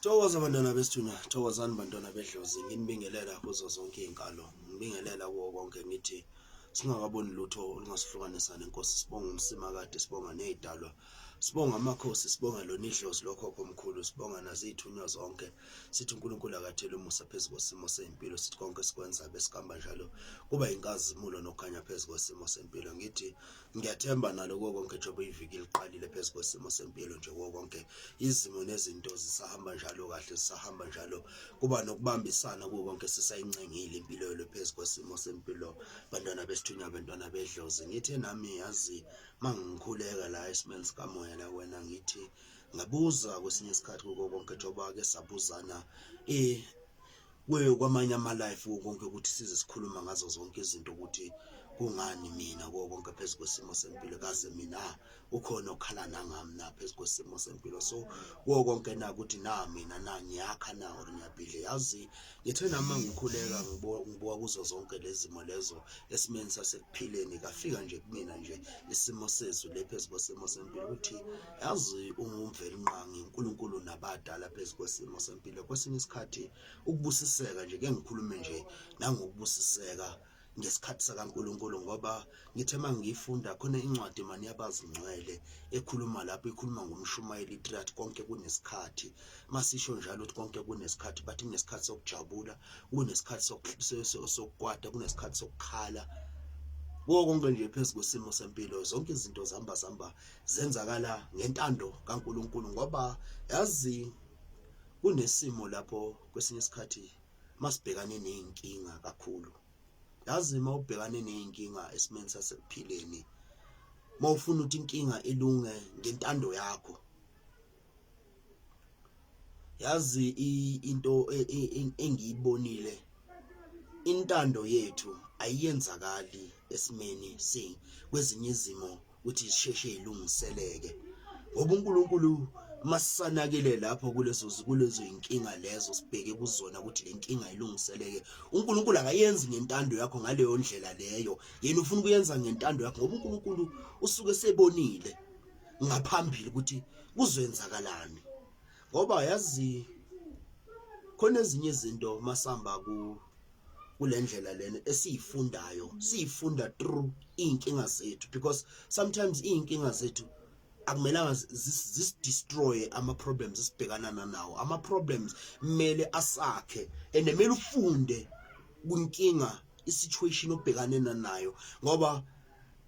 Thokoza bantwana besithuna, thokozani bantwana bedlozi, nginibingelela kuzo zonke iy'nkalo, ngibingelela kuwo konke ngithi singakaboni lutho olungasihlukanisa nenkosi, sibonga umsimakade, sibonga ney'dalwa, sibonga amakhosi, sibonga lona idlozi lokhokho omkhulu, sibonga naziy'thunywa zonke, sithi uNkulunkulu akathele umusa phezu kwesimo sey'mpilo, sithi konke sikwenza besikamba njalo kuba yinkazimulo nokukhanya phezu kwesimo sempilo. Ngithi Ngiyathemba nalo konke njengoba iviki liqalile phezu kwesimo sempilo nje konke izimo nezinto zisahamba njalo kahle zisahamba njalo kuba nokubambisana kuwo konke sisayincengile impilo yelo phezu kwesimo sempilo bantwana besithunywa bantwana bedlozi ngithe nami yazi mangikhuleka la esimeni sikamoya la wena ngithi ngabuza kwesinye isikhathi kuko konke njengoba ke sabuzana eh kuye kwamanye ama-life kuwo konke ukuthi size sikhuluma ngazo zonke izinto ukuthi kungani mina kuwo konke phezu kwesimo sempilo kaze mina ukhona okhala nangami na phezu kwesimo sempilo so kuwo konke na ukuthi na mina na ngiyakha na or ngiyabhidle yazi ngithe nama ngikhuleka ngibuka kuzo zonke lezi zimo lezo esimeni sasekuphileni kafika nje kumina nje isimo sezulu lephezu kwesimo sempilo ukuthi yazi ungumvelinqangi uNkulunkulu nabadala phezu kwesimo sempilo kwesinye isikhathi ukubusiseka nje ke ngikhulume nje nangokubusiseka ngesikhathi sakaNkuluNkulu ngoba ngithe mangiyifunda khona incwadi mani yabazingcwele ekhuluma lapho ikhuluma ngomshumayeli iTrat konke kunesikhathi masisho njalo ukuthi konke kunesikhathi bathi kunesikhathi sokujabula kunesikhathi sokukwata kunesikhathi sokukhala konke nje phezu kwesimo sempilo zonke izinto zihamba zihamba zenzakala ngentando kaNkuluNkulu ngoba yazi kunesimo lapho kwesinye isikhathi masibhekane nezinkinga kakhulu yazi uma ubhekane nezinkinga esimeni sasekuphileni mawufuna ukuthi inkinga ilunge ngentando yakho yazi into e, e, e, engiyibonile intando yethu ayiyenzakali esimeni si kwezinye izimo ukuthi sisheshe ilungiseleke ngoba uNkulunkulu masisanakile lapho kulezo kulezo inkinga lezo sibheke kuzona ukuthi lenkinga ilungiseleke uNkulunkulu akayenzi ngentando yakho ngaleyo ndlela leyo yena ufuna ukuyenza ngentando yakho ngoba uNkulunkulu usuke sebonile ngaphambili ukuthi kuzoyenzakalani ngoba yazi khona ezinye izinto masamba ku kulendlela lena esiyifundayo siyifunda through inkinga zethu because sometimes inkinga zethu akumelanga zisdestroye ama problems esibhekana nawo ama problems kumele asakhe and kumele ufunde kunkinga isituation obhekane nayo ngoba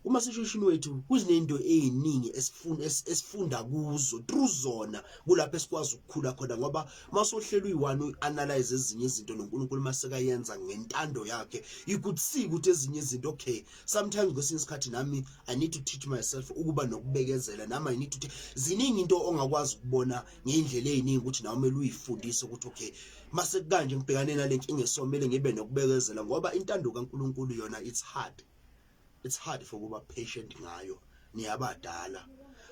kuma situation wethu kuzinento eziningi esifunda esifunda kuzo through zona kulapho esikwazi ukukhula khona ngoba masohlelo uyi1 uanalyze ezinye izinto noNkulunkulu maseka yenza ngentando yakhe ikuthsika ukuthi ezinye izinto okay sometimes kwesinye isikhathi nami i need to teach myself ukuba nokubekezela nami i need to ziningi into ongakwazi ukubona ngeindlela eziningi ukuthi nawe mele uyifundise ukuthi okay mase kanje ngibhekane nalenkinga esomele ngibe nokubekezela ngoba intando kaNkulunkulu yona it's hard it's hard for kuba patient ngayo niyabadala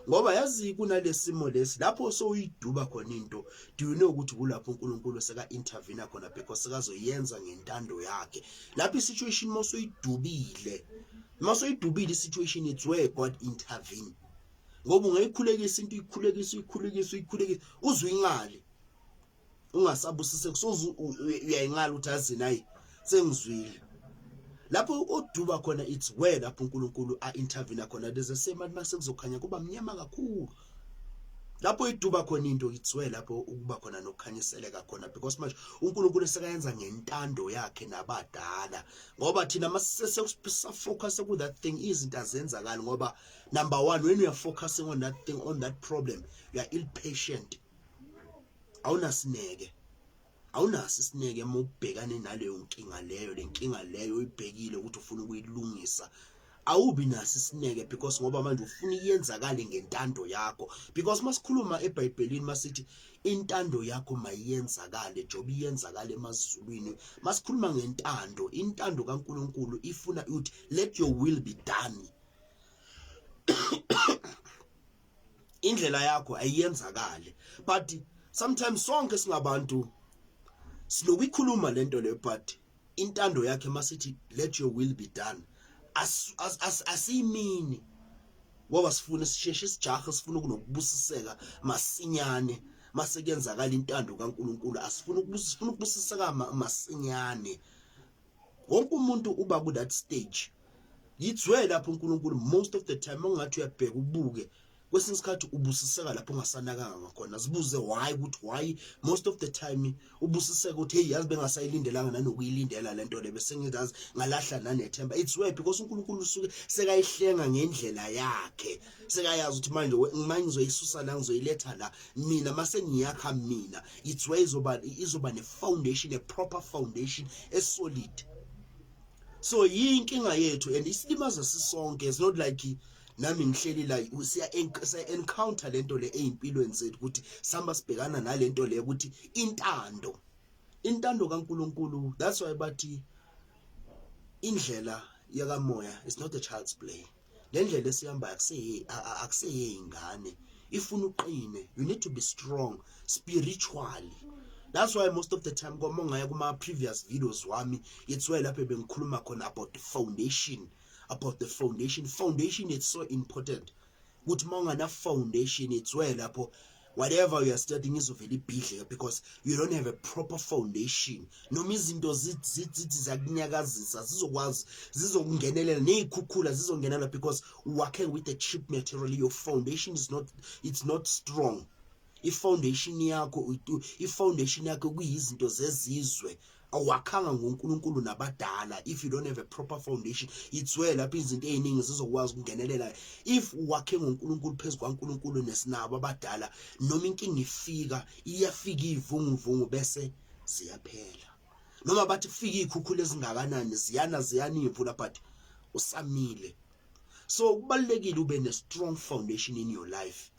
ngoba yazi kunalesimo lesi lapho sowuyiduba khona into do you know ukuthi kulapho uNkulunkulu seka intervene khona because sekazoyenza ngentando yakhe lapho isituation mosoyidubile masoyidubile isituation it's where God intervene ngoba ungayikhulekisa into ikhulekisa ikhulekisa ikhulekisa uzwe ingale ungasabusiseki soze uyayinqala ukuthi azini ayi sengizwile lapho oduba khona it's where lapho uNkulunkulu a intervene khona there's a same at masekuzokhanya kuba mnyama kakhulu lapho iduba khona into it's where lapho ukuba khona nokukhanyiseleka khona because manje uNkulunkulu esekayenza ngentando yakhe nabadala ngoba thina masesekusa focus ku that thing izinto azenzakali ngoba number 1 when you are focusing on that thing on that problem you are ill patient awunasineke awunaso isineke uma ubhekane naleyo nkinga leyo lenkinga leyo uyibhekile ukuthi ufuna ukuyilungisa awubi naso isineke because ngoba manje ufuna iyenzakale ngentando yakho because masikhuluma eBhayibhelini masithi intando yakho mayiyenzakale njengoba iyenzakala emazulwini masikhuluma ngentando intando kaNkuluNkulu ifuna ukuthi let your will be done indlela yakho ayiyenzakali but sometimes sonke singabantu sinokuyikhuluma lento le but intando yakhe masithi let your will be done asiyimini ngoba sifuna sisheshe isijaha sifuna kunokubusiseka masinyane mase kuyenzakala intando kaNkuluNkulu asifuna ukubusiseka masinyane wonke umuntu uba ku that stage yizwe lapho uNkulunkulu most of the time ongathi uyabheka ubuke kwesinye isikhathi ubusiseka lapho ungasanakanga ngakhona zibuze why ukuthi why most of the time ubusiseka ukuthi hey yazi bengasayilindelanga nanokuyilindela lento le bese ngizazi ngalahla nanethemba it's where because uNkulunkulu usuke sekayihlenga ngendlela yakhe sekayazi ukuthi manje uma ngizoyisusa la ngizoyiletha la mina mase ngiyakha mina it's where izoba izoba ne foundation a proper foundation e solid so yinkinga yethu and isilimaza sisonke it's not like nami ngihleli la siya encounter lento le ezimpilweni zethu ukuthi samba sibhekana nalento le ukuthi intando intando kaNkuluNkulu that's why bathi indlela yakamoya is not a child's play le ndlela esihambayo akuseyiye ingane ifuna uqine you need to be strong spiritually that's why most of the time kwama ungaya kuma-previous videos wami it's why lapho bengikhuluma khona about the foundation about the foundation foundation it's so important ukuthi uma ungana-foundation it's why lapho whatever you are studying izovela ibhidleke because you don't have a proper foundation noma izinto zithi ziyakunyakazisa zizokwazi zizokungenelela nezikhukhula zizongenela because working with the cheap material your foundation is not it's not strong ifoundation yakho ifoundation yakho kuyizinto zezizwe awakhanga ngoNkulunkulu nabadala if you don't have a proper foundation itswe lapha izinto eziningi zizokwazi ukungenelela if wakhe ngoNkulunkulu phezulu kwaNkulunkulu nesinabo abadala noma inkinga ifika iyafika ivunguvungu bese ziyaphela noma bathi kufika ikhukhula ezingakanani ziyana ziyana imvula but usamile so kubalekile ube ne strong foundation in your life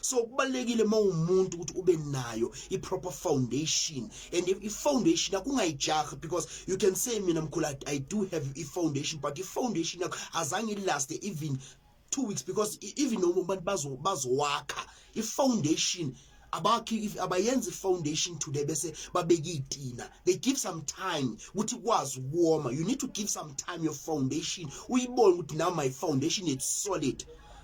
so kubalekile mawumuntu ukuthi ube nayo i proper foundation and if i foundation akungayijahi because you can say mina mkhulu i do have i foundation but i foundation yakho azange last even 2 weeks because e, even noma abantu bazo bazowakha i foundation abakhi if abayenzi foundation today bese babeka itina they give some time ukuthi kwazi ukuwoma you need to give some time your foundation uyibone ukuthi now my foundation is solid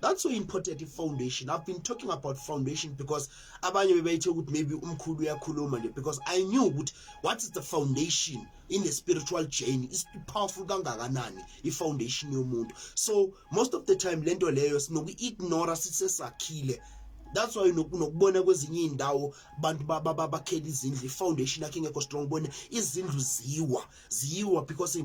that's so important i-foundation i've been talking about foundation because abanye bebeyithe ukuthi maybe umkhulu uyakhuluma nje because i knew ukuthi what is the foundation in the spiritual journey is powerful kangakanani i-foundation yomuntu so most of the time lento leyo sinoku-ignora sisesakhile that's why nokubona kwezinye izindawo abantu bakhela izindlu ifoundation yakhe ingekho strong bona izindlu ziwa ziwa because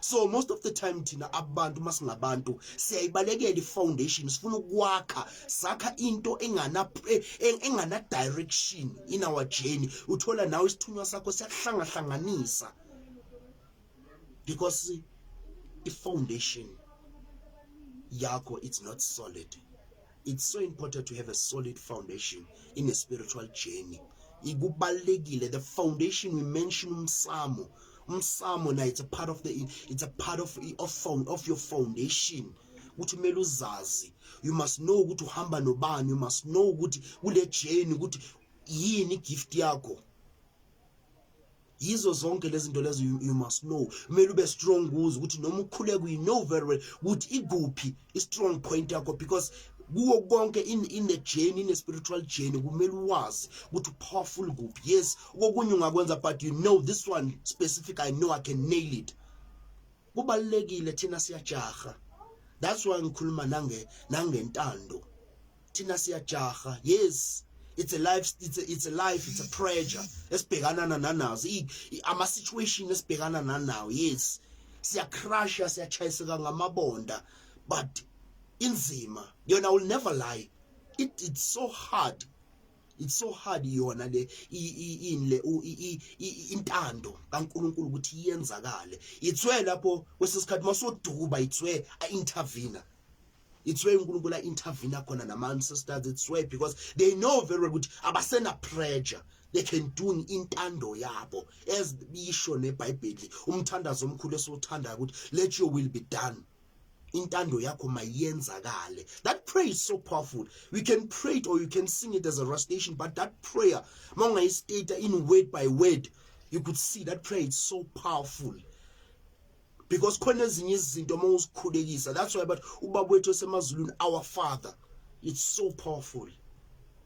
so most of the time thina abantu masingabantu siyayibalekela ifoundation sifuna ukwakha sakha into engana eh, engana direction in our journey uthola nawe isithunywa sakho siyahlanga hlanganisa because ifoundation yakho it's not solid it's so important to have a solid foundation in a spiritual journey ikubalekile the foundation we mention umsamo umsamo na it's a part of the it's a part of of, found, of your foundation ukuthi kumele uzazi you must know ukuthi uhamba nobani you must know ukuthi kule journey ukuthi yini gift yakho yizo zonke lezi zinto lezo you must know kumele ube strong kuze ukuthi noma ukhule kuyi know very well ukuthi ikuphi i strong point yakho because kuwo konke in in a journey in a spiritual journey kumele uwazi ukuthi powerful kuphi yes kokunye ungakwenza but you know this one specific i know i can nail it kubalekile thina siyajaha that's why ngikhuluma nange nangentando thina siyajaha yes it's a life it's a, it's a life it's a pressure esibhekana nanazo ama situation esibhekana nanawo yes siya crush siya chayiseka ngamabonda but inzima yona will never lie it it's so hard it's so hard yona le ini le intando kaNkuluNkulu ukuthi iyenzakale itswe lapho kwesesikhathi masodukuba itswe a intervener it's where uNkulunkulu intervene khona nama ancestors it's where because they know very well ukuthi abasena pressure they can do intando yabo as bisho nebhayibheli umthandazo omkhulu esiwuthandayo ukuthi let your will be done intando yakho mayenzakale that prayer is so powerful we can pray it or you can sing it as a recitation but that prayer mawungayistate in word by word you could see that prayer is so powerful because khona ezinye izinto uma uzikhulekisa that's why but ubaba wethu esemazulwini our father it's so powerful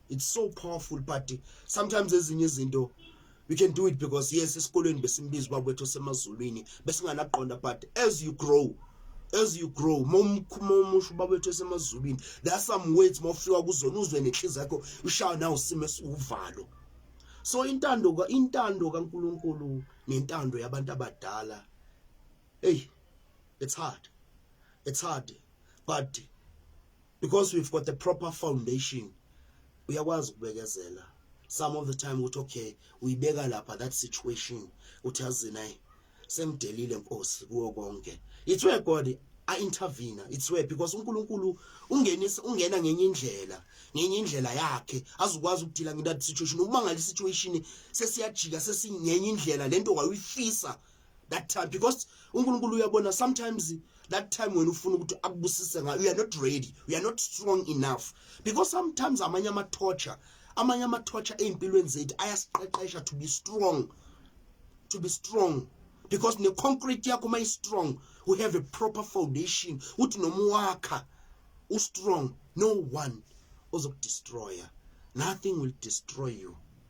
it's so powerful but sometimes ezinye izinto you can do it because yes esikolweni besimbiza ubaba wethu osemazulwini besinganaqonda but as you grow as you grow momusho ubaba wethu esemazulwini there are some words mawufika kuzona uzwe nenhliziyo yakho ushawa nawo simo esiwuvalo so intando ka intando kaNkuluNkulu nentando yabantu abadala hey it's hard it's hard but because we've got the proper foundation uyakwazi ukubekezela some of the time ukuthi okay uyibeka lapha that situation uthi azina eh, semdelile nkosi kuwo konke it's where god a intervene it's where because uNkulunkulu ungenisa ungena ngenye indlela ngenye indlela yakhe azukwazi ukudila ngendathi situation umangali situation sesiyajika sesingenye indlela lento wayifisa that time because uNkulunkulu uyabona sometimes that time when ufuna ukuthi akubusise ngayo you are not ready you are not strong enough because sometimes amanye ama torture amanye ama torture ezimpilweni zethu ayasiqeqesha to be strong to be strong because ne concrete yakho may strong we have a proper foundation uthi noma wakha u strong no one ozokudestroyer nothing will destroy you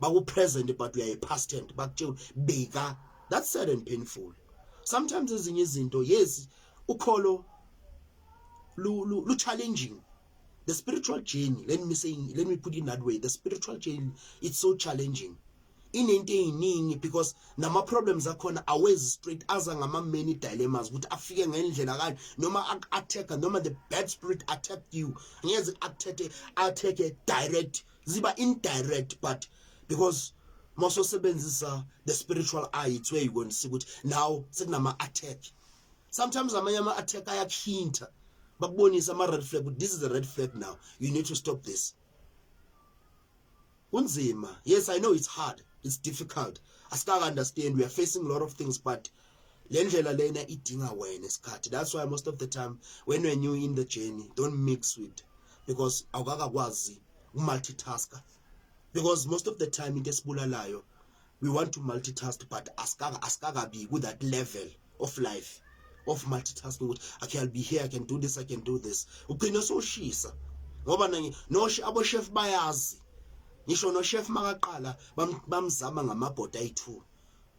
baku present but uyaye past tense bakutshela beka that's sad and painful sometimes ezinye izinto yes ukholo lu, lu, lu challenging the spiritual journey let me say let me put it in that way the spiritual journey it's so challenging inento eyiningi because nama problems akhona awezi straight aza ngama many dilemmas ukuthi afike ngendlela kanje noma attack noma the bad spirit attack you ngeze attack attack direct ziba indirect but because mososebenzisa the spiritual eye it's where you going to see ukuthi now sekunama attack sometimes amanye ama attack ayakhinta bakubonisa ama red flag this is a red flag now you need to stop this kunzima yes i know it's hard it's difficult asika understand we are facing a lot of things but le ndlela lena idinga wena isikhathi that's why most of the time when we're new in the journey don't mix with because awukakakwazi ukumultitasker because most of the time into esibulalayo we want to multitask but asikaka asikakabi ku that level of life of multitasking ukuthi okay I'll be here I can do this I can do this ugcina soshisa ngoba nanye no abo chef bayazi ngisho no chef makaqala bamzama ngamabhoda ayi2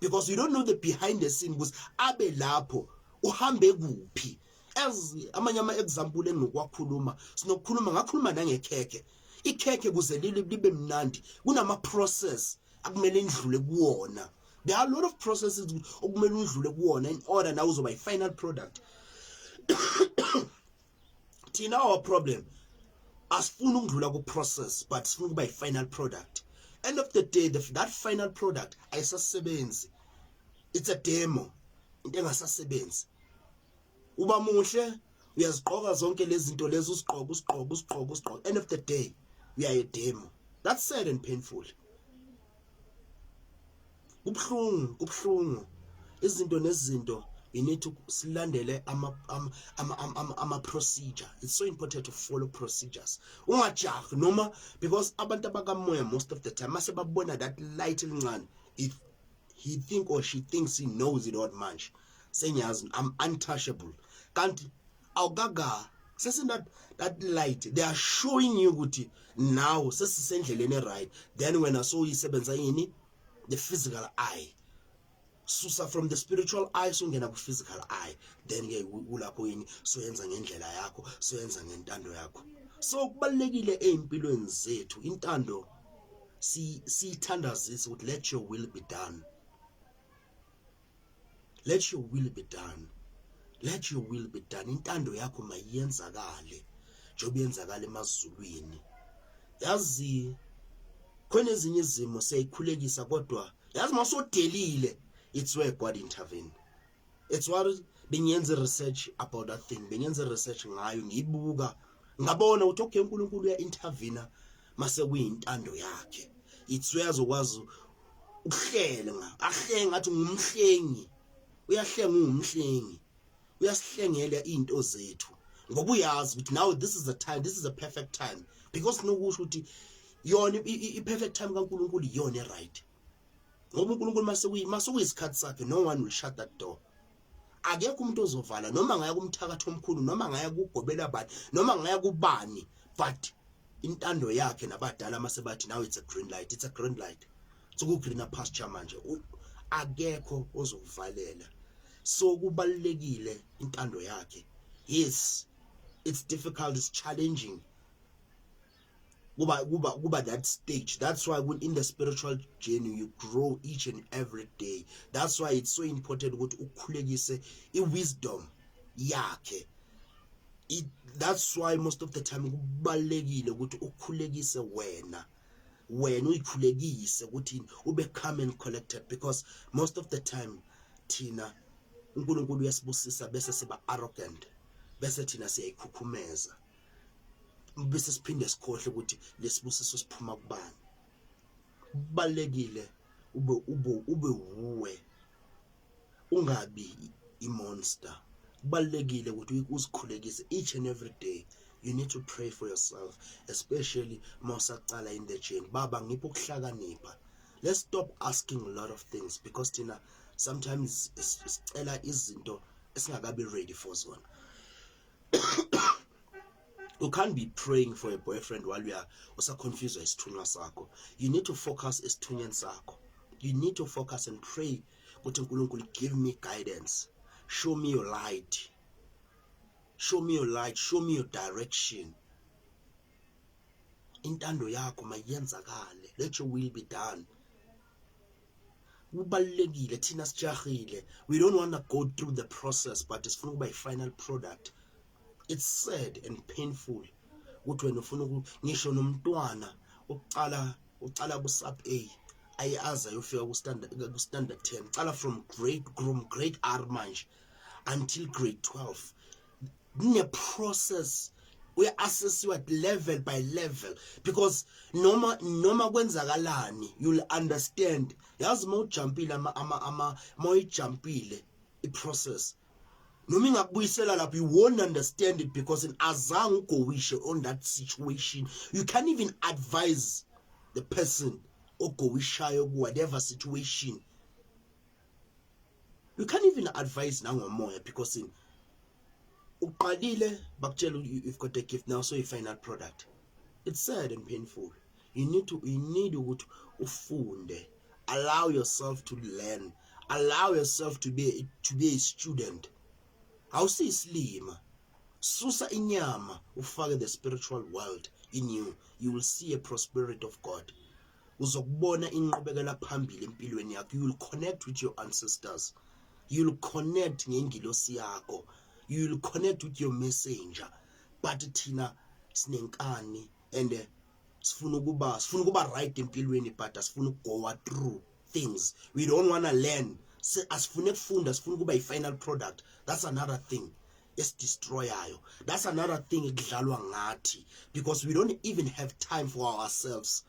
because you don't know the behind the scene ukuthi abe lapho uhambe kuphi as amanye ama example engikwakhuluma sinokukhuluma ngakhuluma nangekhekhe ikhekhe kuze libe mnandi kunama process akumele indlule kuwona there are a lot of processes okumele udlule kuwona in order nawe uzoba i final product thina our problem asifuni ukudlula ku process but sifuna ukuba yi final product end of the day the, that final product ayisasebenzi it's a demo into engasasebenzi uba muhle uyazigqoka zonke lezi zinto lezi usigqoka usigqoka usigqoka usigqoka end of the day uyaye demo that's sad and painful kubuhlungu kubuhlungu izinto nezinto you need to silandele ama ama ama, ama, ama procedure it's so important to follow procedures ungajahi noma because abantu abakamoya most of the time mase babona that light elincane if he think or she thinks he knows it all manje sengiyazi i'm untouchable kanti awukaka sesi that that light they are showing you ukuthi now sesisendleleni eright then wena so uyisebenzisa yini the physical eye susa from the spiritual eye sungena ku physical eye then ke ulapho yini soyenza ngendlela yakho soyenza ngentando yakho so kubalekile ezimpilweni zethu intando si sithandazisa ukuthi let your will be done let your will be done let your will be done intando yakho mayiyenzakale njengoba yenzakala emazulwini yazi khona ezinye izimo siyayikhulekisa kodwa yazi masodelile it's where god intervene it's what bengiyenza research about that thing bengiyenza research ngayo ngiyibuka ngabona ukuthi okay uNkulunkulu uya intervene mase kuyintando yakhe ithi uyazokwazi ukuhlenga ahlenga athi ngumhlengi uyahlenga ungumhlengi uyasihlengela izinto zethu ngoba uyazi ukuthi now this is a time this is a perfect time because nokusho ukuthi yona i-perfect time kaNkuluNkulu iyona e-right ngoba uNkulunkulu masekuyi masekuyisikhathi sakhe no one will shut that door akekho umuntu ozovala noma ngaya kumthakathi omkhulu noma ngaya kugobela bani noma ngaya kubani but intando yakhe nabadala masebathi now it's a green light it's a green light soku greener pasture manje akekho ozokuvalela so kubalekile intando yakhe yes it's difficult it's challenging kuba kuba kuba that stage that's why in the spiritual journey you grow each and every day that's why it's so important ukuthi ukhulekise i wisdom yakhe it that's why most of the time kubalekile ukuthi ukhulekise wena wena uyikhulekise ukuthi ube calm and collected because most of the time thina uNkulunkulu uyasibusisa bese siba arrogant bese thina siyayikhukhumeza bese siphinde sikhohle ukuthi lesibusiso siphuma kubani kubalekile ube ube ube wuwe ungabi imonster kubalekile ukuthi uzikhulekise each and every day you need to pray for yourself especially mawusaqala in the journey baba ngipho ukuhlakanipha let's stop asking a lot of things because thina sometimes sicela izinto esingakabi ready for zona you can't be praying for a boyfriend while you are usaconfuswa isithunywa sakho you need to focus esithunyweni sakho you need to focus and pray ukuthi uNkulunkulu give me guidance show me your light show me your light show me your direction intando yakho mayenzakale let your will be done kubalulekile thina sijahile we don't want to go through the process but sifuna ukuba i-final product it's sad and painful ukuthi wena ufuna ngisho nomntwana uqala uqala ku-sub a aye aze ayofika ku-standard 10 uqala from grade from grade r manje until grade 12 kune process uya assessiwa level by level because noma noma kwenzakalani you'll understand yazi uma ujumpile ama ama ama moyijumpile i process noma ingakubuyisela lapho you won't understand it because in azange ugowishe on that situation you can't even advise the person ogowishayo ku whatever situation you can't even advise nangomoya because in uqalile bakutshela you've got a gift now so you final product it's sad and painful you need to you need ukuthi ufunde allow yourself to learn allow yourself to be to be a student awusiyisilima susa inyama ufake the spiritual world in you you will see a prosperity of god uzokubona inqubekela phambili empilweni yakho you will connect with your ancestors you will connect ngengilosi yakho you will connect with your messenger but thina sinenkani and eh, sifuna ukuba sifuna ukuba right empilweni but asifuna ukugoa through things we don't want to learn asifune kufunda sifuna ukuba i-final product that's another thing esidestroyayo that's another thing ekudlalwa ngathi because we don't even have time for ourselves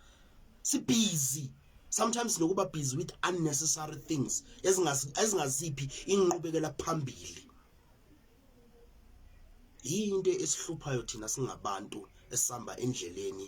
si busy sometimes nokuba busy with unnecessary things ezingaziphi inqubekela phambili yinto esihluphayo thina singabantu esihamba endleleni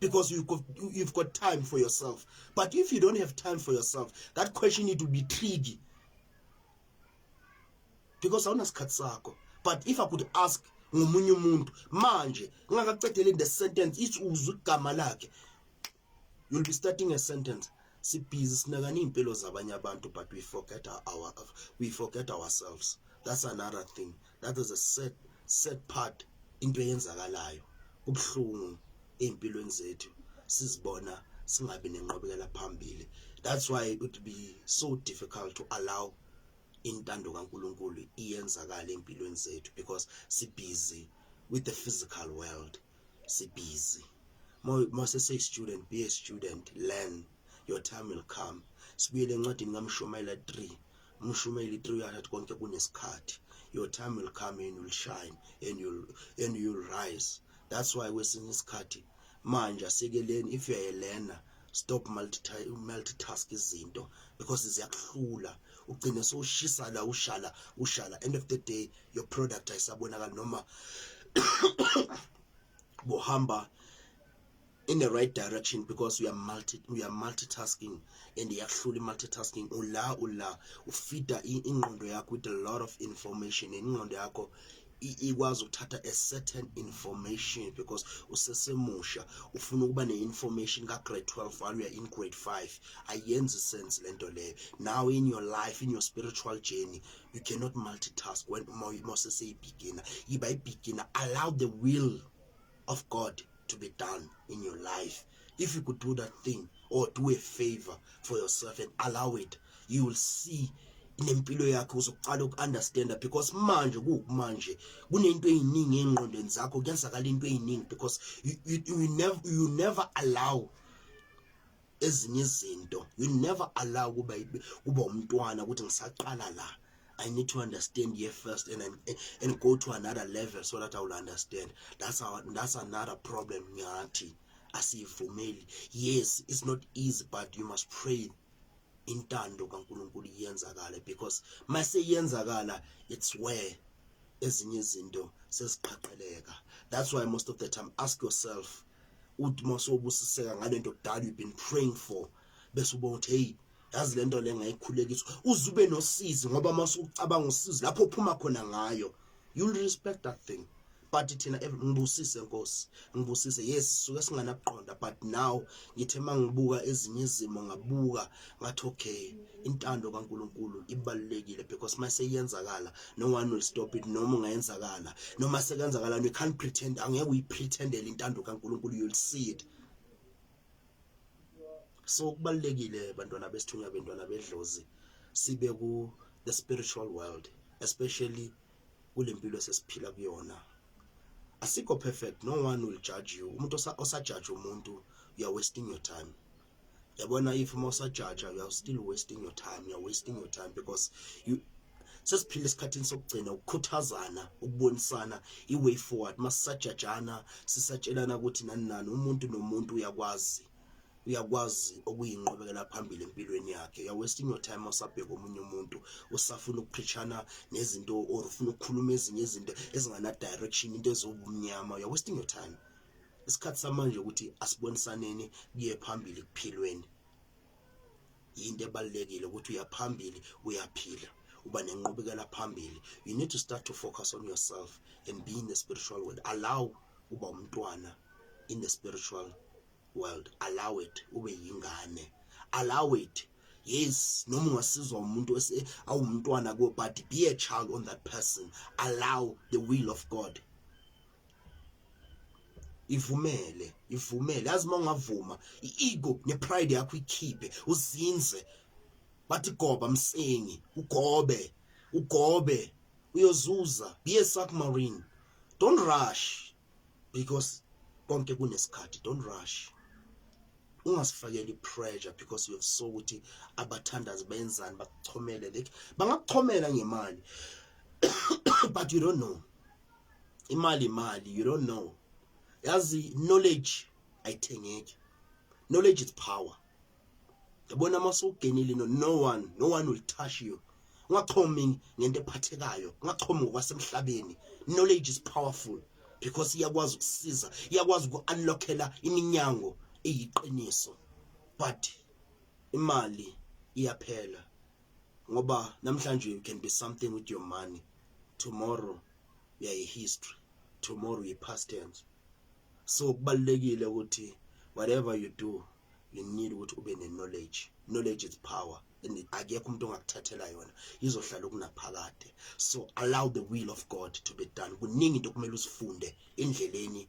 because you've got, you've got time for yourself but if you don't have time for yourself that question need to be tricky because awunasikhathi sakho but if i could ask ngomunye umuntu manje ngingakaqedeli the sentence ithi uzwe igama lakhe you'll be starting a sentence sibhizi sinakana impilo zabanye abantu but we forget our we forget ourselves that's another thing that is a sad sad part into eyenzakalayo kubuhlungu ezimpilweni zethu sizibona singabi nenqobekela phambili that's why it would be so difficult to allow intando kaNkuluNkulu iyenzakala empilweni zethu because si busy with the physical world si busy mase say student be a student learn your time will come sibuyele encwadini kaMshumayela 3 Mshumeli 300 konke kunesikhathi your time will come and you'll shine and you'll and you'll rise that's why kwesinye isikhathi manje asikeleni if uyayelena stop multitask izinto because ziyakuhlula ugcine sowushisa la ushala ushala end of the day your product ayisabonakali noma bohamba in the right direction because you are multi you are multitasking and iyakuhlula multitasking ula ula ufida ingqondo yakho with a lot of information and ingqondo yakho ikwazi ukuthatha a certain information because usesemusha ufuna ukuba ne-information ka-grade 12 while you're in grade 5 ayenzi sense le nto leyo now in your life in your spiritual journey you cannot multitask when moseseyibhigina yiba ibhigina allow the will of God to be done in your life. If you could do that thing or do a favor for yourself and allow it, you will see nempilo yakhe uzoqala uku-understanda because manje kuwukumanje kunento eyiningi ey'ngqondweni zakho kuyenzakala into eyiningi because you, you, you, never, you never allow ezinye izinto you never allow kuba kuba umntwana ukuthi ngisaqala la I need to understand here first and and go to another level so that I will understand that's our that's another problem ngathi asiyivumeli yes it's not easy but you must pray intando kaNkuluNkulu iyenzakala because mase yenzakala it's where ezinye izinto seziqhaqeleka that's why most of the time ask yourself uthi masubusiseka ngalento kudala you've been praying for bese ubona ukuthi hey yazi lento le ngayikhulekiswa uzube nosizi ngoba masucabanga usizi lapho uphuma khona ngayo you respect that thing but thina ngibusise nkosi ngibusise yes suke singanakuqonda but now ngithe mangibuka ezinye izimo ngabuka ngathi okay intando kaNkuluNkulu ibalulekile because mase iyenzakala no one will stop it noma ungayenzakala noma sekenzakala you can't pretend angeke uyipretendele intando kaNkuluNkulu you'll see it so kubalekile bantwana besithunywa bentwana bedlozi sibe ku the spiritual world especially kulempilo sesiphila kuyona asikho perfect no one will judge you umuntu osa judge umuntu you are wasting your time yabona if uma usajaja you are still wasting your time you are wasting your time because you sesiphila esikhathini sokugcina ukukhuthazana ukubonisana i-way forward masisajajana sisatshelana ukuthi nani nani umuntu nomuntu uyakwazi uyakwazi okuyinqubekela phambili empilweni yakhe you're wasting your time usabheka omunye umuntu usafuna ukuphishana nezinto or ufuna ukukhuluma ezinye izinto ezingana direction into ezobumnyama you're wasting your time isikhathi samanje ukuthi asibonisaneni kuye phambili kuphilweni yinto ebalulekile ukuthi uyaphambili uyaphila uba nenqubekela phambili you need to start to focus on yourself and be in the spiritual world allow uba umntwana in the spiritual world allow it ube yingane allow it yes noma ungasizwa umuntu awumntwana kuwe but be a child on that person allow the will of god ivumele ivumele yazi uma ungavuma i-ego ne-pride yakho ikhiphe uzinze bathi goba msengi ugobe ugobe uyozuza be a submarine don't rush because konke kunesikhathi don't rush ungasifakeli pressure because you have so ukuthi abathandazi benzani bakuchomele like bangakuchomela ngemali but you don't know imali imali you don't know yazi knowledge ayithengeki knowledge is power yabona uma sowugenile no no one no one will touch you ungaxhomi ngento ephathekayo ungaxhomi ngokwasemhlabeni knowledge is powerful because iyakwazi ukusiza iyakwazi uku-unlockela iminyango eyiqiniso but imali iyaphela ngoba namhlanje you can be something with your money tomorrow uyayi history tomorrow uyi past tense so kubalekile ukuthi whatever you do you need ukuthi ube ne knowledge knowledge is power and akekho umuntu ongakuthathela yona izohlala kunaphakade so allow the will of God to be done kuningi into kumele usifunde endleleni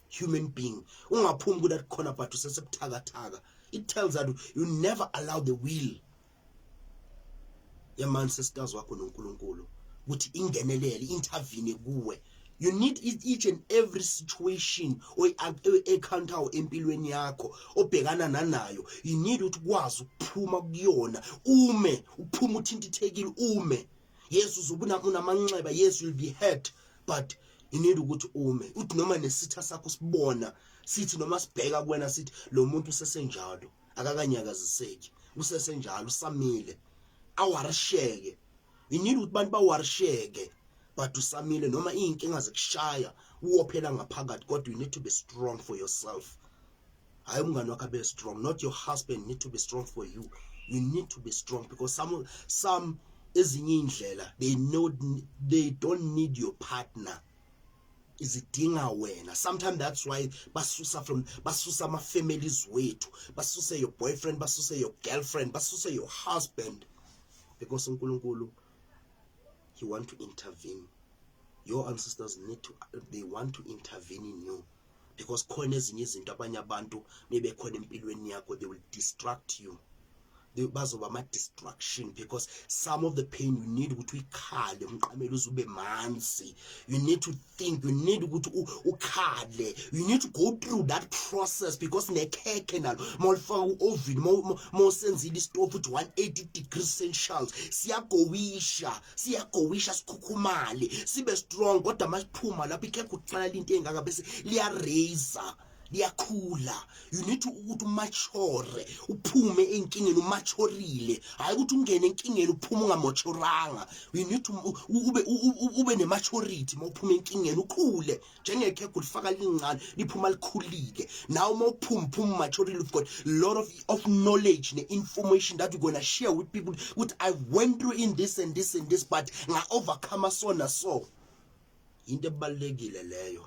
human being ungaphumi ku that corner but usesebuthakathaka it tells that you never allow the will ya man sisters wakho noNkulunkulu ukuthi ingenelele intervene kuwe you need it each and every situation oyiencounter empilweni yakho obhekana nanayo you need ukuthi kwazi ukuphuma kuyona ume uphuma uthintithekile ume yes uzobuna unamanxeba yes you'll be hurt but you need ukuthi ume uthi noma nesitha sakho sibona sithi noma sibheka kuwena sithi lo muntu usesenjalo akakanyakaziseki usesenjalo usamile awarisheke you need ukuthi abantu bawarisheke but usamile noma izinkinga zikushaya uwophela ngaphakathi kodwa you need to be strong for yourself hayi umngane wakho abe strong not your husband need to be strong for you you need to be strong because some some ezinye indlela they know they don't need your partner izidinga wena sometimes that's why basusa from basusa ama families wethu basuse your boyfriend basuse your girlfriend basuse your husband because uNkulunkulu he want to intervene your ancestors need to they want to intervene in you because khona ezinye izinto abanye abantu mebekhona empilweni yakho they will distract you bazoba ama-distraction because some of the pain you need ukuthi uyikhale umqamele uze ube manzi you need to think you need ukuthi ukhale you need to go through that process because nekhekhe nalo uma ulifaka u-ovini uma usenzile isitofu ukuthi 180 degrees celsius siyagowisha siyagowisha sikhukhumale sibe strong kodwa masiphuma lapho ikhekhe uqala into engaka bese liya raiser liyakhula you need to ukuthi umature uphume enkingeni umachorile hayi ukuthi ungene enkingeni uphume ungamochoranga you need to ube ube nematurity mawuphuma enkingeni ukhule njengekhekhe ulifaka lincane liphuma likhulile nawe uma uphuma phuma maturely you've got lot of, of knowledge ne-information that you're gonna share with people ukuthi i went through in this and this and this but nga-overcome so na so yinto ebalulekile leyo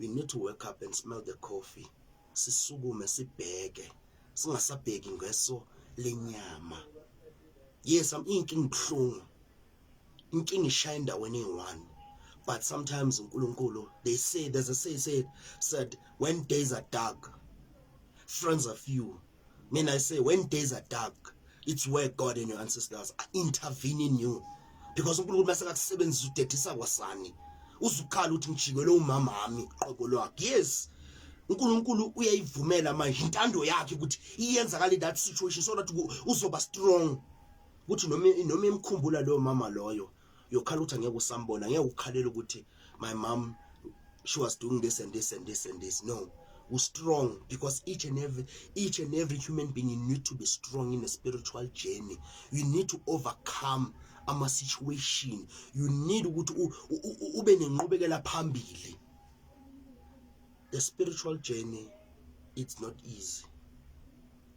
we need to wake up and smell the coffee sisukume sibheke singasabheki ngeso lenyama yes am inkinga ibuhlungu inkinga ishaya endaweni eyi-one but sometimes unkulunkulu they say there's a say said said when days are dark friends are few mina i say when days are dark it's where god and your ancestors are intervening you because unkulunkulu mase kakusebenzisa udedisa kwasani uzukhala ukuthi ngijikelwe umama wami qobo lwakhe yes uNkulunkulu uyayivumela manje intando yakhe ukuthi iyenzakala in that situation so that uzoba strong ukuthi noma noma imkhumbula loyo mama loyo yokhala ukuthi angeke usambona ngeke ukhalela ukuthi my mom she was doing this and this and this and this no u strong because each and every each and every human being you need to be strong in a spiritual journey you need to overcome ama situation you need ukuthi ube nenqubekela phambili the spiritual journey it's not easy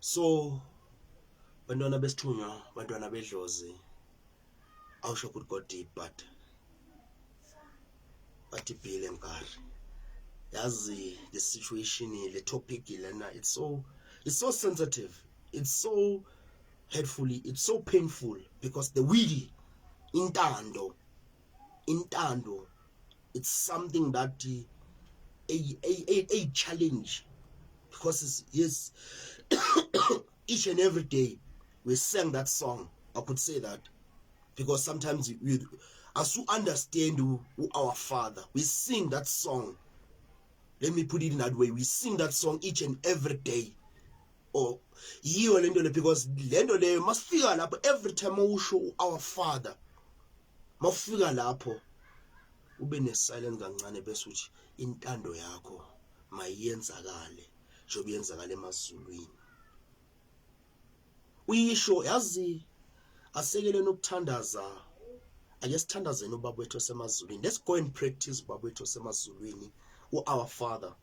so bantwana besithunywa bantwana bedlozi I'll show good God deep but bathi bhile mgari yazi the situation le topic lena it's so it's so sensitive it's so hurtfully it's so painful because the will intando intando it's something that a a a, a challenge because yes each and every day we sang that song i could say that because sometimes we as you understand who, who our father we sing that song let me put it in that way we sing that song each and every day oh yiyo lento le because lento leyo masifika lapho every time usho our father mawufika lapho ube ne silence kancane bese uthi intando yakho mayiyenzakale njengoba yenzakala emazulwini uyisho yazi asekeleni ukuthandaza ake sithandazeni ubaba wethu osemazulwini let's go and practice ubaba wethu osemazulwini u-our father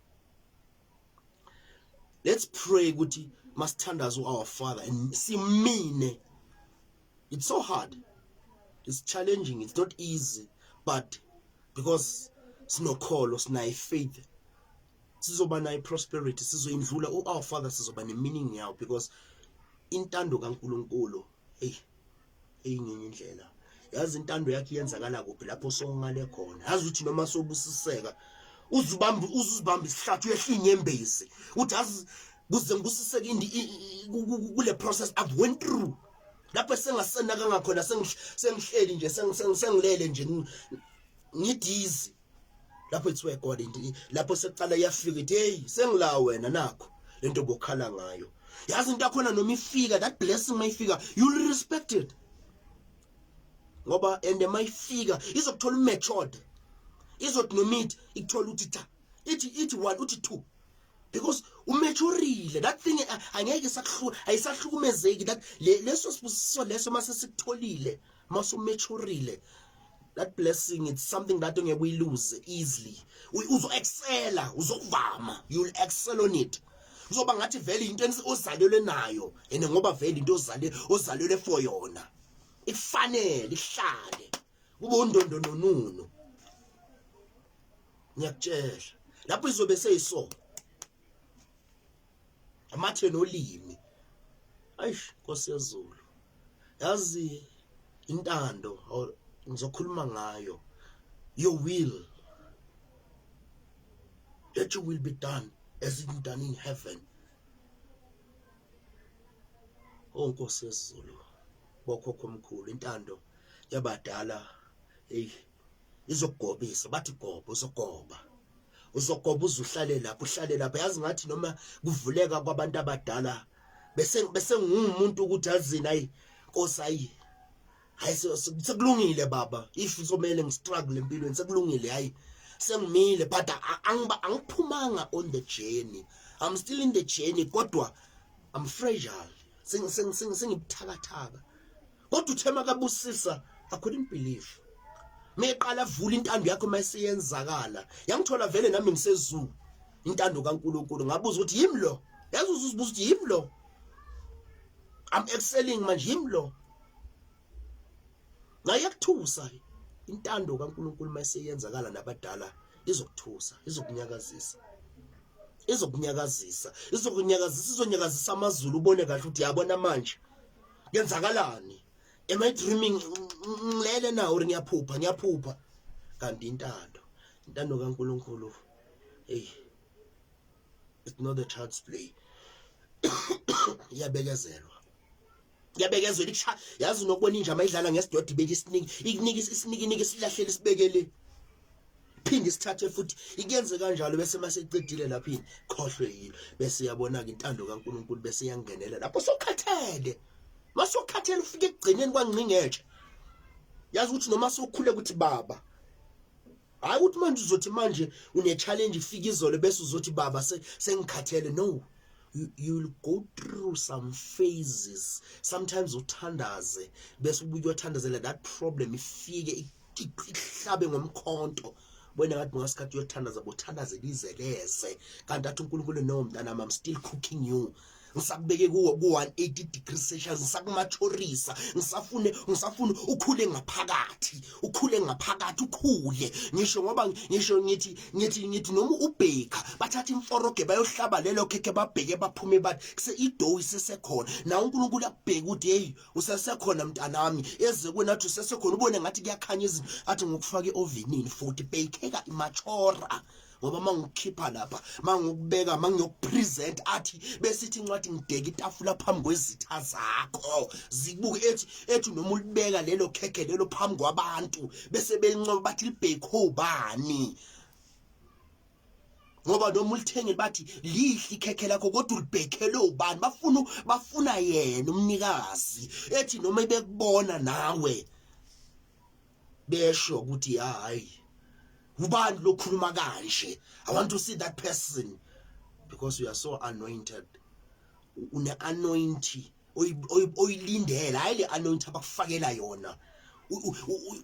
let's pray ukuthi masithandaza our father and simine it's so hard it's challenging it's not easy but because sinokholo sinayi faith sizoba nayi prosperity sizoyindlula u our father sizoba ne meaning yawo because intando kaNkuluNkulu hey eyingenye indlela yazi intando yakhe iyenzakala kuphi lapho songale khona yazi ukuthi noma sobusiseka uzubamba uzuzibamba isihlathi uyehla inyembezi uthi azi kuze ngibusiseke indi kule process i've went through lapho sengasenaka ngakhona sengihleli nje sengilele nje ngidizi lapho it's where God into lapho seqala yafika ithi hey sengila wena nakho lento bokhala ngayo yazi into akhona noma ifika that blessing mayifika you'll respect it ngoba and mayifika izokuthola matured izothi nomit ikuthola uthi cha ithi ithi 1 uthi 2 because umaturile that thing angeke sakuhlula ayisahlukumezeki that leso sibusiso leso mase sikutholile mase umaturele that blessing it's something that ongeke uyilose easily uzo excela uzokuvama you will excel on it kuzoba ngathi vele into ozalelwe nayo and ngoba vele into ozale ozalelwe for yona ifanele ihlale kube undondo nonunu ngiyakutshela lapho izobe seyiso amathe nolimi ayish Nkosi yezulu yazi intando ngizokhuluma ngayo your will that you will be done as it done in heaven oh Nkosi yezulu bokhokho omkhulu intando yabadala hey izokugobisa bathi goba uzogoba uzogoba uzuhlale lapho uhlale lapho yazi ngathi noma kuvuleka kwabantu abadala bese bese ngumuntu ukuthi azini ayi nkosi ayi hayi sekulungile baba if somele ngistruggle empilweni sekulungile hayi sengimile but angiba angiphumanga on the journey i'm still in the journey kodwa i'm fragile sengibuthakathaka kodwa uthe makabusisa i couldn't believe meqala vula intando yakho mayiseyenzakala yangithola vele nami ngisezulu intando kaNkuluNkulu ngabuza ukuthi yimi lo yazi uzuzibuza ukuthi yimi lo I'm excelling manje yimi lo ngayekuthusa intando kaNkuluNkulu mayiseyenzakala nabadala izokuthusa izokunyakazisa izokunyakazisa izokunyakazisa izonyakazisa amazulu ubone kahle ukuthi yabona manje kwenzakalani am i dreaming ngilele na or ngiyaphupha ngiyaphupha kanti intando intando kaNkuluNkulu hey it's not a child's play iyabekezelwa yabekezela ikusha yazi nokubona inja mayidlala ngesidodi beke isiningi ikunika isiningi nike silahlele sibekele phinde isithathe futhi ikenze kanjalo bese maseqedile lapho yini khohlwe yilo bese yabona ke intando kaNkuluNkulu bese yangenela lapho sokhathele masokhathele ufike ekugcineni kwangqingetshe yazi ukuthi noma sokhule ukuthi baba hayi ukuthi manje uzothi manje une challenge ifika izolo bese uzothi baba sengikhathele no you, you will go through some phases sometimes uthandaze bese ubuye uyothandazela that problem ifike ihlabe ngomkhonto wena ngathi ngasikhathi uyothandaza bothandaze lizeleze kanti athi uNkulunkulu no mntana mam still cooking you ngisakubeke kuwo ku-180 degrees celsius ngisakumathorisa ngisafune ngisafune ukhule ngaphakathi ukhule ngaphakathi ukhule ngisho ngoba ngisho ngithi ngithi ngithi noma ubheka bathatha imforoge bayohlaba lelo khekhe babheke baphume bathi kuse idoyi sesekhona nawe unkulunkulu akubheke ukuthi yeyi usesekhona mntanami eze kuwena athi usesekhona ubone ngathi kuyakhanya izinto athi ngokufaka iovenini futhi beykheka imachora ngoba mangikhipha lapha mangikubeka mangiyokupresent athi besithi incwadi ngibheka itafula phambi kwezitha zakho zibuke ethi ethi noma ulibeka lelo khekhe lelo phambi kwabantu bese belincoba bathi libhekho bani ngoba noma ulithengile bathi lihle ikhekhe lakho kodwa ulibhekhele ubani bafuna bafuna yena umnikazi ethi noma ibekubona nawe besho ukuthi hayi ubani lokhuluma kanje i want to see that person because you are so anointed une anointing oyilindela hayi le anointing abakufakela yona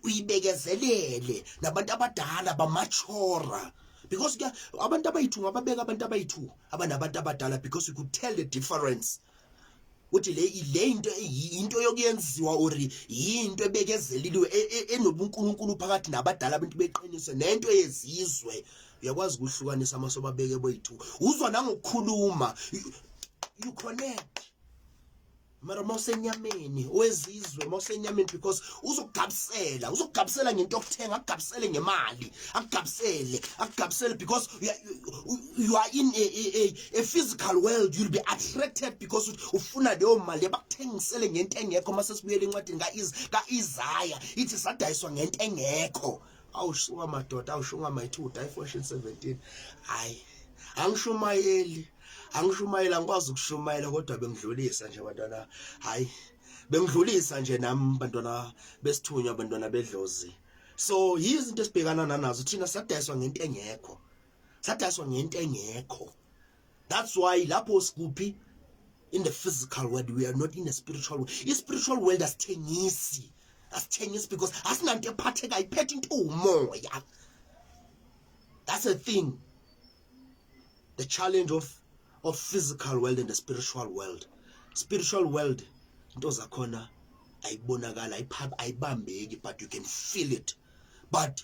uyibekezelele nabantu abadala bamachora because ke abantu abayithu ngababeka abantu abayithu abanabantu abadala because you could tell the difference uthi le le into into yokuyenziwa or into ebekezeliliwe e, e, enobunkulunkulu phakathi nabadala abantu beqiniso nento yezizwe uyakwazi ukuhlukanisa amaso babeke boyi-two uzwa nangokukhuluma you connect mara uma usenyameni wezizwe uma usenyameni because uzokugabisela uzokugabisela ngento okuthenga akugabisele ngemali akugabisele akugabisele because you are, you are in a, a, a, a physical world you'll be attracted because ufuna leyo mali bakuthengisele ngento engekho uma sesibuyela encwadini ka-isaya ithi sadayiswa ngento engekho awusuka madoda awushunga mayithi udayifoshin 17 hayi angishumayeli angishumayeli angikwazi ukushumayela kodwa bengidlulisa nje bantwana hayi bengidlulisa nje nami bantwana besithunywa bantwana bedlozi so yizinto esibhekana nanazo thina sadayiswa ngento engekho sadayiswa ngento engekho that's why lapho sikuphi in the physical world we are not in a spiritual world i spiritual world asithengisi asithengisi because asinanto ephathekayo iphethe into umoya that's a thing the challenge of of physical world and the spiritual world spiritual world into zakhona ayibonakala ayibambeki but you can feel it but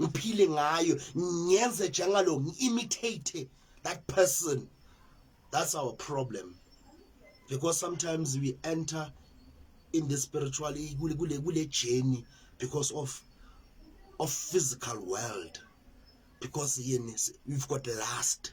ngiphile ngayo ngiyenze njengalo ngi-imitate that person that's our problem because sometimes we enter in the spiritual kule kule kule journey because of of physical world because yini we've got last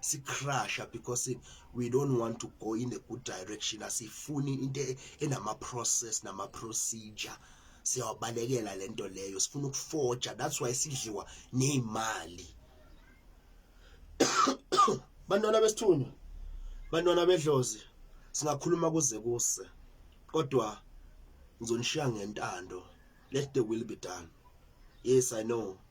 sicrusha because we don't want to go in a good direction asifuni into e-, enama process nama procedure siyawabalekela lento leyo sifuna ukuforja that's why sidliwa nezimali bantwana besithunywa bantwana bedlozi singakhuluma kuze kuse kodwa ngizonishiya ngentando let the will be done yes i know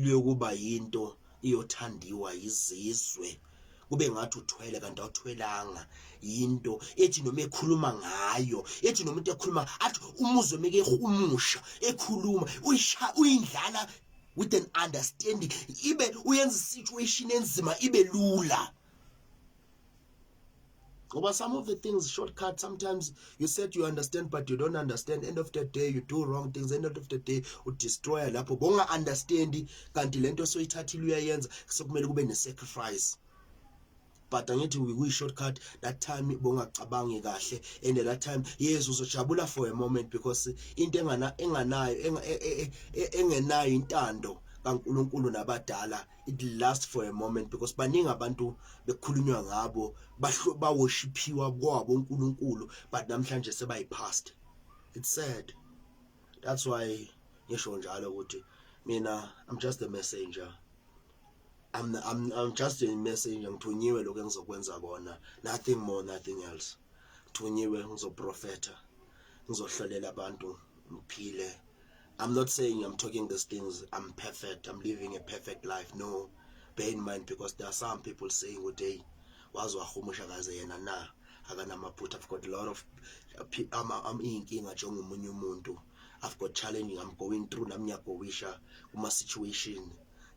luyokuba yinto iyothandiwa yizizwe kube ngathi uthwele kanti awuthwelanga yinto ethi noma ekhuluma ngayo ethi noma umuntu ekhuluma athi umuzwe meke umusha ekhuluma uyisha uyindlala with an understanding ibe uyenza situation enzima ibe lula ngoba some of the things shortcut sometimes you said you understand but you don't understand end of the day you do wrong things end of the day udestroya lapho bonga understand kanti lento soyithathile uyayenza sekumele kube nesacrifice but angithi we we shortcut that time bongacabangi kahle and that time yes uzojabula for a moment because into engana enganayo e, e, e, engenayo intando kaNkuluNkulu nabadala it last for a moment because baningi abantu bekhulunywa ngabo bawoshiphiwa kwabo uNkulunkulu but namhlanje sebayipast it's sad that's why ngisho njalo ukuthi mina i'm just a messenger I'm, I'm, I'm just a messenger ngithunyiwe lokho engizokwenza kona nothing more nothing else ngithunyiwe ngizoprofetha ngizohlolela abantu ngiphile I'm not saying I'm talking these things I'm perfect I'm living a perfect life no bear in mind because there are some people saying ukuthi hey waze wahumusha kaze yena na akanamaphutha I've got a lot of ama am inkinga njengomunye umuntu I've got challenging I'm going through nami ngiyagowisha kuma situation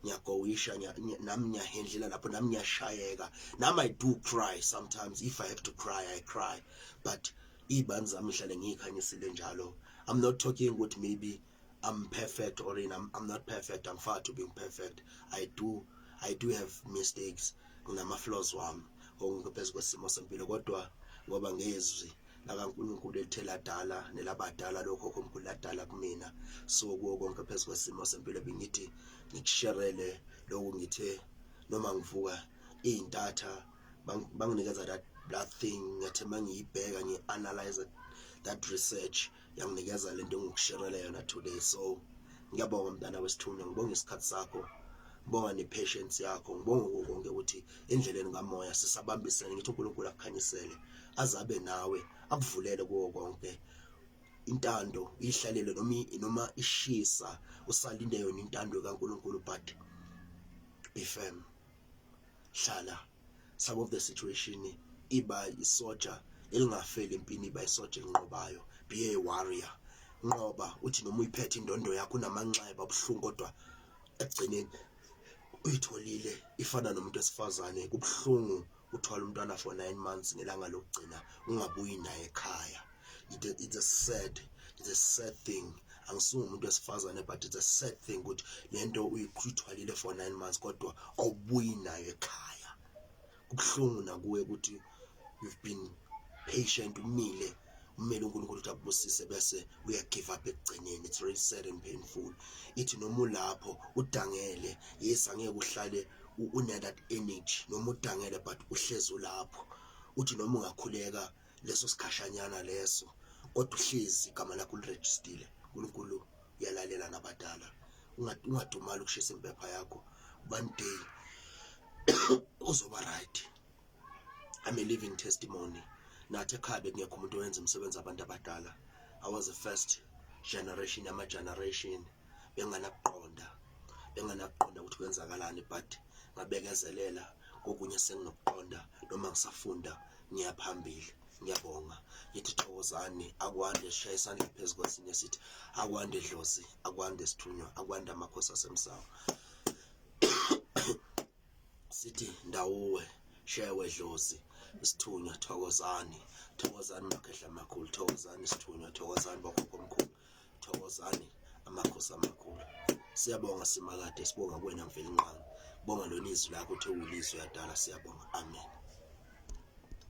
ngiyagowisha nami ngiyahendlela lapho nami ngiyashayeka nami I do cry sometimes if I have to cry I cry but Iy'bani zami ngihlale ngiy'khanyisile njalo I'm not talking ukuthi maybe I'm perfect or in I'm, I'm not perfect I'm far to being perfect I do I do have mistakes nginama-flaws wami ngokuphezu kwesimo sempilo kodwa ngoba ngezwi lakaNkulunkulu elithe ladala nelabadala lokho okhomkhulu ladala kumina so kuwo konke phezu kwesimo sempilo bengithi ngikusherele lokhu ngithe noma ngivuka iy'ntatha banginikeza that that thing ngathi mangiyibheka ngiyi analyze that research yanginikeza lento engikusherela yona today so ngiyabonga mntana wesithunywa ngibonga isikhathi sakho ngibonga ne-patience yakho ngibonga konke ukuthi endleleni kamoya sisabambisene ngithi unkulunkulu akukhanyisele azabe nawe akuvulele kuwo konke intando ihlalele noma noma ishisa usalinde yona intando kaNkuluNkulu but be firm Hlala some of the situation iba isoja elingafeli empini iba isoja elinqobayo be a warrior nqoba uthi noma uyiphethe indondo yakho unamanxeba abuhlungu kodwa ekugcineni uyitholile ifana nomuntu esifazane kubuhlungu uthwala umntwana for 9 months ngelanga lokugcina ungabuyi naye ekhaya it's a sad it's a sad thing angisuye umuntu wesifazane but it's a sad thing ukuthi lento uyithwalile for 9 months kodwa awubuyi nayo ekhaya kubuhlungu nakuwe ukuthi you've been patient umile umele uNkulunkulu ukuthi akubusise bese uya give up ekugcineni it's really sad and painful ithi noma ulapho udangele yes angeke uhlale une that energy noma udangele but uhlezi ulapho uthi noma ungakhuleka leso sikhashanyana leso kodwa uhlezi igama lakho ulirejistile uNkulunkulu uyalalela nabadala ungadumali ukushisa impepha yakho one day uzoba right i'm a living testimony nathi ekhaya bekungekho umuntu owenza umsebenzi abantu abadala i was the first generation yama-generation benganakuqonda benganakuqonda ukuthi kwenzakalani but ngabekezelela kokunye senginokuqonda noma ngisafunda ngiyaphambili ngiyabonga ngithi thokozani akwande shaya isandla phezu kwesinye sithi akwande dlozi akwande sithunywa akwande amakhosi asemsawa sithi ndawuwe shewe dlozi isithunywa thokozani thokozani makhehla makhulu thokozani isithunywa thokozani bokhokho omkhulu Thokozani amakhosi amakhulu. Siyabonga simakade sibonga kuwena mvelinqangi. Bonga lona izwi lakho uthi uwulizwi yadala siyabonga. Amen.